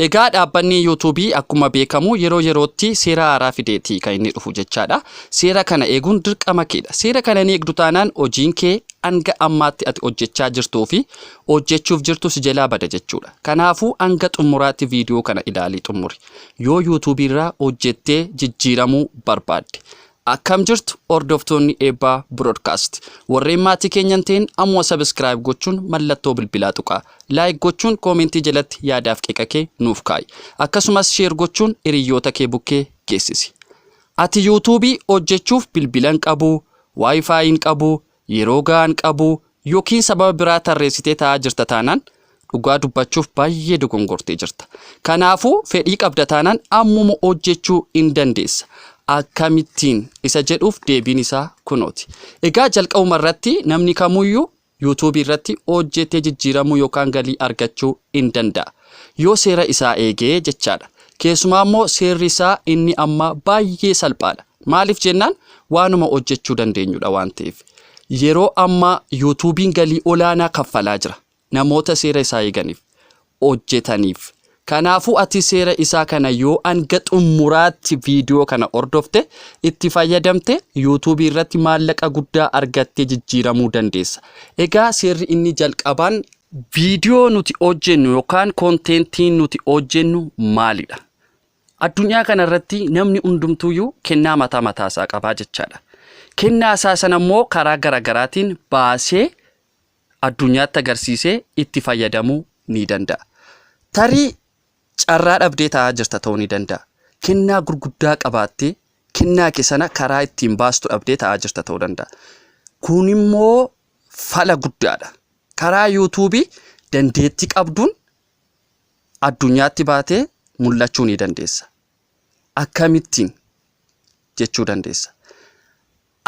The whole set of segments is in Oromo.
Egaa dhaabbanni Yuutuubii akkuma beekamu yeroo yerootti seera haaraa fideeti kan inni dhufu jechaadha. Seera kana eeguun dirqama keedha. Seera kana hin eegdu taanaan hojiin kee hanga ammaatti ati hojjechaa jirtuu fi hojjechuuf jirtu si jalaa bada jechuudha. Kanaafuu hanga xumuraatti viidiyoo kana ilaalii xumuri. Yoo Yuutuubii irraa hojjettee jijjiiramuu barbaadde. Akkam jirtu hordoftoonni Eebbaa Broadcast. Warreen maatii keenya hin ta'in ammuma subscribe gochuun mallattoo bilbilaa tuqaa. Like gochuun koomentii jalatti yaadaaf qeeqa kee nuuf kaa'i. Akkasumas share gochuun hiriyyoota kee bukkee geessisi. Ati YouTube hojjechuuf bilbila hin qabu, Wi-Fi hin qabu, Yeroo gahaa hin qabu ykn sababa biraa tarreessitee taa'aa jirta taanaan dhugaa dubbachuuf baay'ee dogongortee jirta. Kanaafuu fedhii qabda taanaan ammuma hojjechuu in dandeessa. Akkamittiin? isa jedhuuf deebiin isaa kunooti. Egaa jalqabuma irratti namni kamuyyuu YouTube irratti hojjetee jijjiiramuu yookaan galii argachuu in danda'a. Yoo seera isaa eege jechaadha. Keessumaa immoo seerri isaa inni ammaa baay'ee salphaadha. Maaliif jennaan waanuma hojjechuu dandeenyudha waan ta'eef. Yeroo ammaa yuutuubiin galii olaanaa kaffalaa jira. Namoota seera isaa eeganiif, hojjetaniif. Kanaafuu ati seera isaa kana yoo hanga xumuraatti viidiyoo kana hordofte, itti fayyadamte, yuutuubii irratti maallaqa guddaa argattee jijjiiramuu dandeessa. Egaa seerri inni jalqabaan Viidiyoo nuti hojjennu yookaan konteentiin nuti hojjennu maalidha? Addunyaa kana irratti namni hundumtuuyyuu kennaa mataa mataa isaa qabaa jechaadha. Kennaa isaa sana immoo karaa garaagaraatiin baasee addunyaatti agarsiisee itti fayyadamuu ni danda'a. Tarii carraa dhabdee taa'aa jirta ta'uu ni danda'a. Kennaa gurguddaa qabaattee kennaa kee sana karaa ittiin baastu dhabdee taa'aa jirta ta'uu danda'a. Kun immoo fala guddaadha. Karaa YouTube dandeetti qabduun addunyaatti baatee mul'achuu ni dandeessa. Akkamittiin jechuu dandeessa.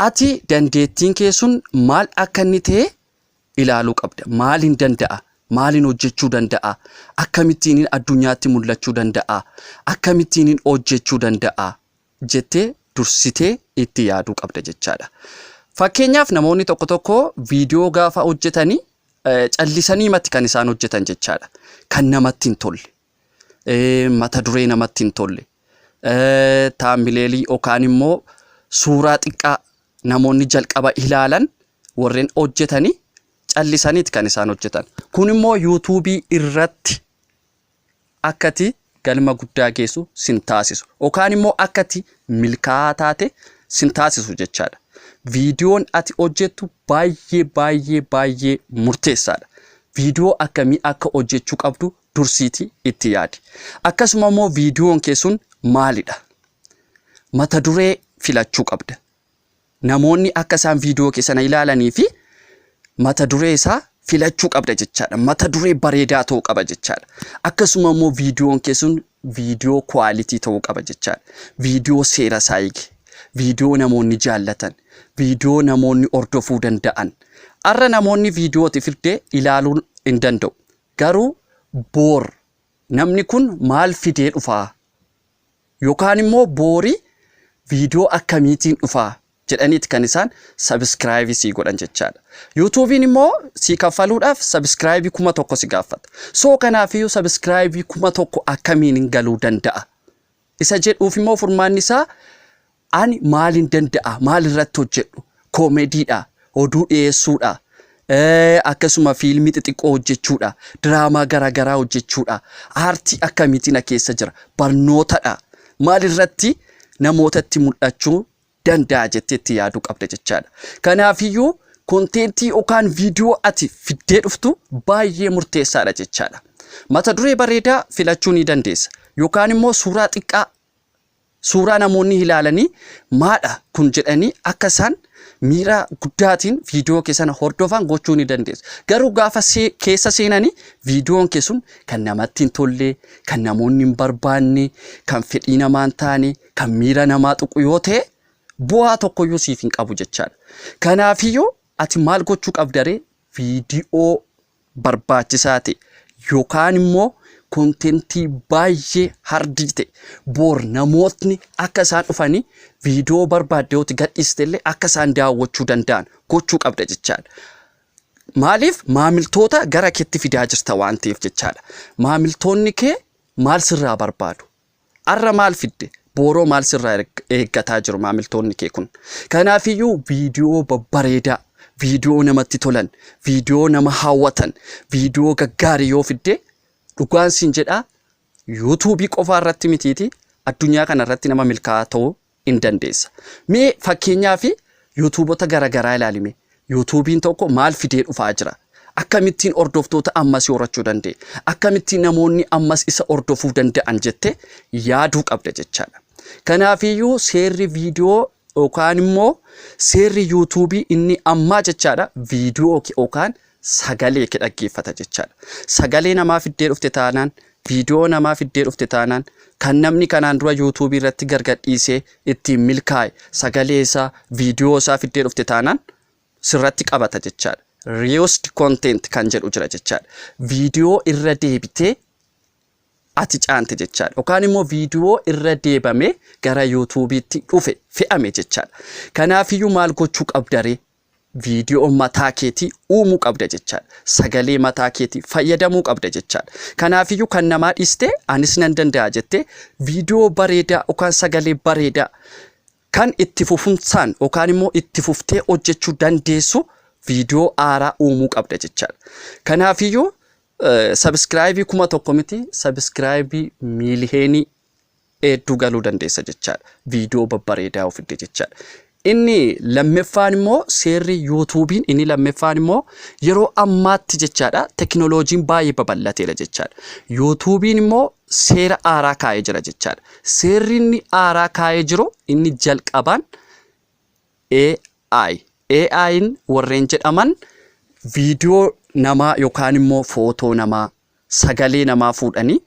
Ati dandeettiin kee sun maal akka inni ta'e ilaaluu qabda. Maaliin danda'a? Maaliin hojjechuu danda'a? Akkamittiin addunyaatti mul'achuu danda'a? Akkamittiin hojjechuu danda'a? jettee dursitee itti yaaduu qabda jechaadha. Fakkeenyaaf namoonni tokko tokko viidiyoo gaafa hojjetanii eh, callisanii matti kan isaan hojjetan jechaadha. Kan namatti hin tolle, eh, mata duree namatti hin tolle, eh, taambileelii yookaan immoo suuraa xiqqaa namoonni jalqaba ilaalan warreen hojjetanii callisaniiti kan isaan hojjetan. Kun immoo yuutuubii irratti akka ati galma guddaa geessu sin taasisu yookaan immoo akka ati milkaa'aa taate sin taasisu jechaadha. Viidiyoon ati hojjettu baay'ee baay'ee baay'ee murteessaadha. Viidiyoo akkamii akka hojjechuu qabdu dursiiti itti yaadi. Akkasuma immoo viidiyoon kee sun maalidha? Mata duree filachuu qabda. namoonni akka isaan viidiyoo kee sana ilaalanii fi mata duree isaa filachuu qabda jechaadha. Mata duree bareedaa ta'uu qaba jechaadha. Akkasuma immoo viidiyoon kee sun viidiyoo kwaalitii ta'uu qaba jechaadha. Viidiyoo seera isaa eege, viidiyoo namoonni jaallatan, viidiyoo namoonni hordofuu danda'an. Har'a namoonni viidiyooti firdee ilaaluu hin danda'u. Garuu boor namni kun maal fidee dhufaa Yokaan immoo boori viidiyoo akkamiitiin dhufa jedhaniiti kan isaan sabiskiraayibii sii godhan jechaadha. Yuutuubiin immoo sii kaffaluudhaaf sabiskiraayibii kuma tokko si gaaffata. Soo kanaafiyyuu sabiskiraayibii kuma tokko akkamiin galuu danda'a? Isa jedhuuf immoo furmaanni isaa Ani maalin danda'a? Maal irratti hojjedhu? Koomediidha, oduu dhiyeessuudha, eh, akkasuma fiilmii xixiqqoo hojjechuudha, diraamaa garaagaraa hojjechuudha. Aartii akkamiitii na keessa jira? Barnootadha. Maal irratti namootatti mul'achuu danda'a jettee itti yaaduu qabda jechaadha. Kanaafiyyuu konteentii yookaan viidiyoo ati fiddee dhuftu baay'ee murteessaadha jechaadha. Mata duree bareedaa filachuu ni dandeessa. Yookaan immoo suuraa xiqqaa Suuraa namoonni ilaalanii maadha kun jedhanii akka isaan miira guddaatiin viidiyoo kee sana hordofan gochuu ni dandeessa. Garuu gaafa keessa seenanii viidiyoon kee sun kan namatti hin tolle, kan namoonni hin barbaanne, kan fedhii namaa hin taane, kan miira namaa tuqu yoo ta'e bu'aa tokkoyyuu siif hin qabu jechaadha. Kanaafiyyuu ati maal gochuu qabdaree viidiyoo barbaachisaa ta'e yookaan immoo kontentii baay'ee hardii ta'e boor namootni akka isaan dhufanii viidiyoo barbaadde yoo gadhiiste illee akka isaan daawwachuu danda'an gochuu qabda jechaadha. Maaliif maamiltoota gara keetti fidaa jirta waan ta'eef jechaadha. Maamiltoonni kee maal sirraa barbaadu? Arra maal fidde? Booroo maal sirraa erg- eeggataa jiru maamiltoonni kee kun? Kanaafiyyuu viidiyoo babbareedaa, viidiyoo namatti tolan, viidiyoo nama hawwatan, viidiyoo gaggaarii yoo fidde dhugaan siin jedhaa yuutuubii qofaa irratti mitiiti addunyaa kana irratti nama milkaa'aa ta'uu in dandeessa. Mee fakkeenyaaf yuutuubota gara garaa ilaali mee. Yuutuubiin tokko maal fidee dhufaa jira? Akkamittiin hordoftoota ammas horachuu danda'e? Akkamittiin namoonni ammas isa hordofuu danda'an jettee yaaduu qabda jechaadha. Kanaafiyyuu seerri viidiyoo yookaan immoo seerri yuutuubii inni ammaa jechaadha viidiyoo yookaan sagalee kee dhaggeeffata jechaadha. Sagalee namaa fiddee dhufte taanaan, viidiyoo namaa fiddee dhufte taanaan, kan namni kanaan dura yuutuubii irratti gargadhiisee ittiin milkaa'e sagalee isaa, viidiyoo isaa fiddee dhufte taanaan sirratti qabata jechaadha. Reused content kan jedhu jira jechaadha. Viidiyoo irra deebitee ati caante jechaadha. Yookaan immoo viidiyoo irra deebamee gara yuutuubiitti dhufe fe'ame jechaadha. Kanaafiyyuu maal gochuu qabdaree? Viidiyoo mataa keetii uumuu qabda jechaadha. Sagalee mataa keetii fayyadamuu qabda jechaadha. Kanaafiyyuu kan namaa dhiistee anis nan danda'a jettee viidiyoo bareedaa yookaan sagalee bareedaa kan itti fufumsaan yookaan immoo itti fuftee hojjechuu dandeessu viidiyoo haaraa uumuu qabda jechaadha. Kanaafiyyuu sabiskiraayibii kuma tokko miti sabiskiraayibii miiliyeenii hedduu galuu dandeessa jechaadha. Viidiyoo babbareedaa yoo fidde jechaadha. Inni lammeffaan immoo seerri yuutuubiin inni lammeffaan immoo yeroo ammaatti jechaadha tekinooloojiin baay'ee babal'ateera jechaadha. Yuutuubiin immoo seera aaraa kaa'ee jira jechaadha. Seerri inni aaraa kaa'ee jiru inni jalqabaan AI. AI'n warreen jedhaman viidiyoo namaa yookaan immoo footoo namaa sagalee namaa fuudhanii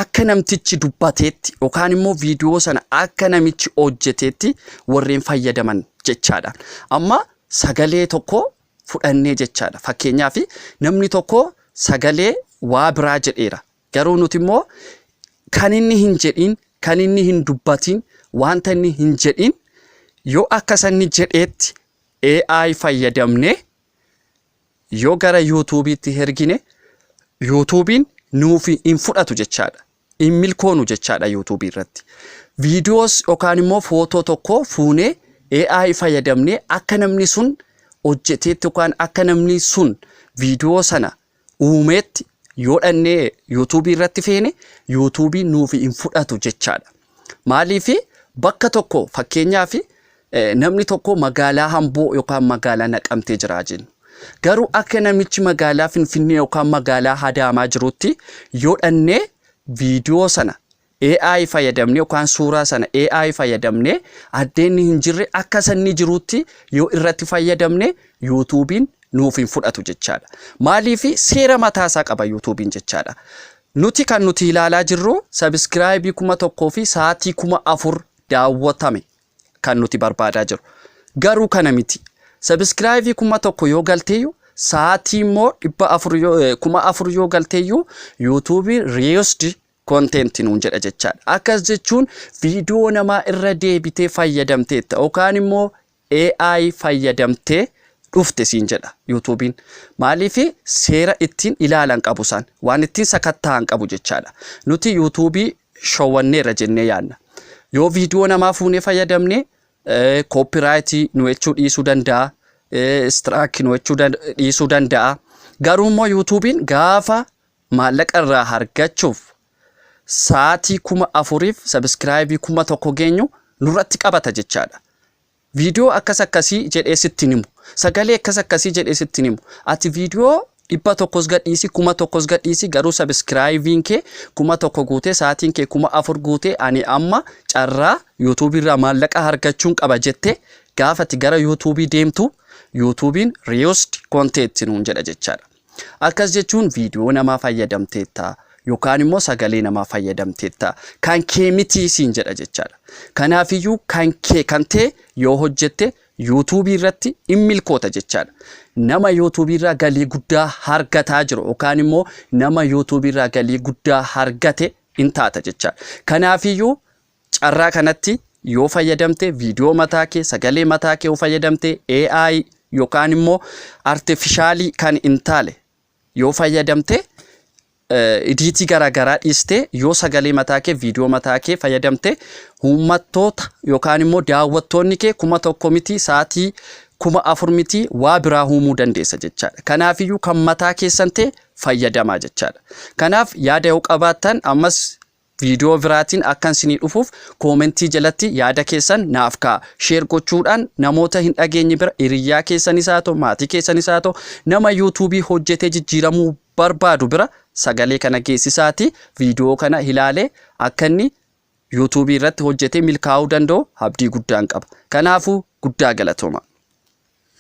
akka namtichi dubbateetti yookaan immoo viidiyoo sana akka namichi hojjeteetti warreen fayyadaman jechaadha. Amma sagalee tokko fudhannee jechaadha. Fakkeenyaaf namni tokko sagalee waa biraa jedheera. Garuu nuti immoo kan inni hin jedhin, kan inni hin dubbatin, wanta inni hin jedhin yoo akka sanni jedheetti AI fayyadamnee Yoo gara yuutuubiitti hergine yuutuubiin nuuf hin fudhatu jechaadha. Hin milkoonu jechaadha yuutuubii irratti. Viidiyoos yookaan immoo footoo tokko fuunee AI fayyadamnee akka namni sun hojjeteetti yookaan akka namni sun viidiyoo sana uumeetti yoo dhannee yuutuubii irratti feene yuutuubiin nuuf hin fudhatu jechaadha. Maaliif bakka tokko fakkeenyaaf namni tokko magaalaa Hamboo yookaan magaalaa Naqamtee jira jennu. Garuu akka namichi magaalaa Finfinnee yookaan magaalaa Hadaamaa jirutti yoo dhannee viidiyoo sana AI fayyadamnee yookaan suuraa sana AI fayyadamnee addeenni hin jirre akka sanni jirutti yoo irratti fayyadamne yuutuubiin nuuf hin fudhatu jechaadha. Maaliif seera mataasaa qaba yuutuubiin jechaadha. Nuti kan nuti ilaalaa jirru subscribe 1000 fi sa'aatii 4000 daawwatame kan nuti barbaadaa jiru. Garuu kana miti. Subscribe 1000 yoo galteeyyu sa'aatii immoo 400 yoo- eh, 4000 yoo galteeyyu YouTube reused content nuun jedha jechaadha. Akkas jechuun viidiyoo namaa irra deebitee fayyadamteetta yookaan immoo AI fayyadamtee dhufte siin jedha youtube'n. Maaliif seera ittiin ilaalan qabu isaan. Waan ittiin sakatta'an qabu jechaadha. Nuti youtube showwanneerra jennee yaadna. Yoo viidiyoo namaa fuunee fayyadamne copyright nu jechuu dhiisuu danda'a. Strike nu jechuu dhiisuu danda'a. Garuu immoo youtube'n gaafa maallaqa irraa argachuuf sa'aatii 4000f subscribe 1000 geenyu nurratti qabata jechaadha. Viidiyoo akkas akkasii jedhee sitti hin himu. Sagalee akkas akkasii jedhee sitti hin himu. Ati viidiyoo dhibba tokkos gadhiisi kuma tokkos gadhiisi garuu sabiskiraayiviin kee kuma tokko guutee sa'aatiin kee kuma afur guutee ani amma carraa yuutuubii irraa maallaqa argachuun qaba jettee gaafati gara yuutuubii deemtu yuutuubiin reused content nuun jedha jechaadha. Akkas jechuun viidiyoo namaa fayyadamteetta yookaan immoo sagalee namaa fayyadamteetta kan kee miti siin jedha jechaadha. Kanaafiyyuu kan kee kan ta'e yoo hojjette yuutuubii irratti in milkoota jechaadha. Nama yuutuubii irraa galii guddaa argataa jiru yookaan immoo nama yuutuubii irraa galii guddaa argate in taata jechaadha. Kanaafiyyuu Carraa kanatti yoo fayyadamte viidiyoo mataa kee sagalee mataa kee yoo fayyadamte AI yookaan immoo artifishaalii kan hin taale yoo fayyadamte idiitii garaagaraa dhiistee yoo sagalee mataa kee viidiyoo mataa kee fayyadamte uummattoota yookaan immoo daawwattoonni kee kuma tokko miti sa'aatii kuma afur miti waa biraa uumuu dandeessa jechaadha. Kanaafiyyuu kan mataa keessan ta'e fayyadamaa jechaadha. Kanaaf yaada yoo qabaattan ammas Viidiyoo biraatiin akkan isinii dhufuuf koomentii jalatti yaada keessan naaf kaa'a. Sheer gochuudhaan namoota hin dhageenye bira hiriyyaa keessanis haa ta'u, maatii keessanis haa ta'u, nama yuutuubii hojjetee jijjiiramuu barbaadu bira sagalee kana geessisaatii viidiyoo kana ilaalee akka inni yuutuubii irratti hojjetee milkaa'uu danda'u abdii guddaan qaba. Kanaafuu guddaa galatoomaa.